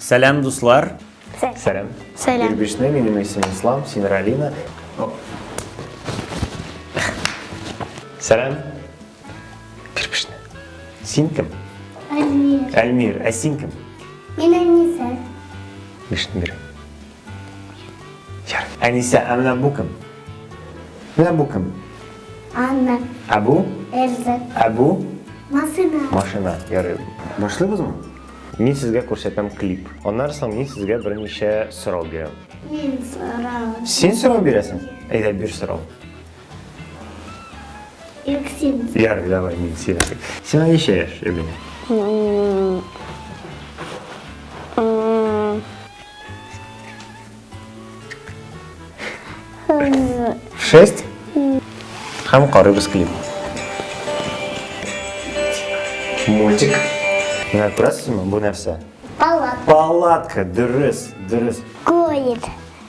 Сәләм, дуслар! Сәләм! Сәләм! Ирбишне, минем исем Ислам, син Ралина. Сәләм! Ирбишне. Син кем? Әлмир. Әлмир, ә син кем? Мин Әниса. Ирбишне бирем. Әнисә, ә менә бу кем? Менә бу кем? Анна. Ә бу? Эльза. Ә бу? Машина. Машина, ярый. Башлыйбызмы? Мин сезгә күрсәтәм клип. Аннары соң мин сезгә берничә сорау бирәм. Мин сорау. Син сорау бирәсең? Әйдә, бир сорау. Юксин. Ярый, давай, мин сине. Сиңа ничә яшь, Эмилия? Шесть? Һәм карыйбыз клип. Мультик. Менә күрәсезме, бу нәрсә? Палатка. Палатка, дөрес, дөрес. Кует.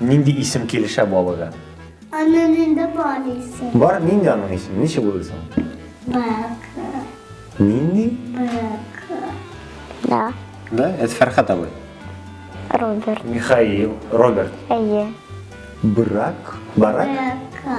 Нинди исем килешә балыга? Аның нинди бар исем? Бар, нинди аның исеме? Ничек булды соң? Бака. Нинди? Бака. Да. Да, это Фәрхат абый. Роберт. Михаил, Роберт. Әйе. Брак, барак. Бака.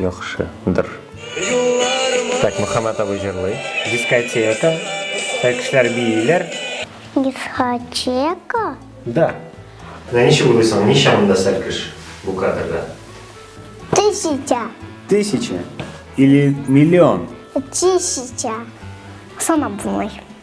Яхшы, дыр. Так, Мөхәммәт абый җырлый. Дискотека. Так, кешеләр бииләр. Дискотека? Да. Менә ничек уйлыйсың, ничә монда сәлкеш бу кадрда? Тысяча. Тысяча или миллион? Тысяча. Санап булмый.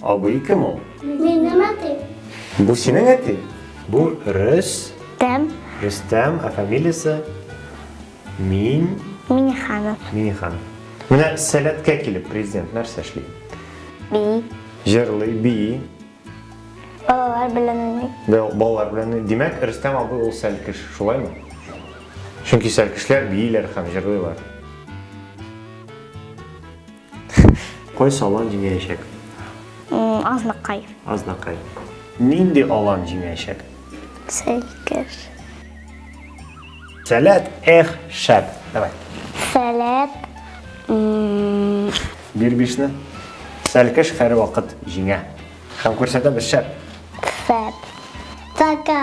Абый кем ул? Минем әти. Бу синең әти? Бу Рөс. Тәм. Рөстәм, ә фамилиясе? Мин. Миниханов. Минихан. Менә сәләткә килеп президент нәрсә эшли? Би. Җырлый, би. Балалар белән уйный. Балалар белән. Димәк, Рөстәм абый ул сәлкеш, шулаймы? Чөнки сәлкешләр бииләр һәм җырлыйлар. Кайсы алан җиңәячәк? Азнакай. Азнакай. Нинди алан җиңәячәк? Сәйкер. Сәләт, эх, шәп. Давай. Сәләт. Бир бишне. Сәлкеш хәр вакыт җиңә. Һәм күрсәтәбез шәп. Шәп. Така.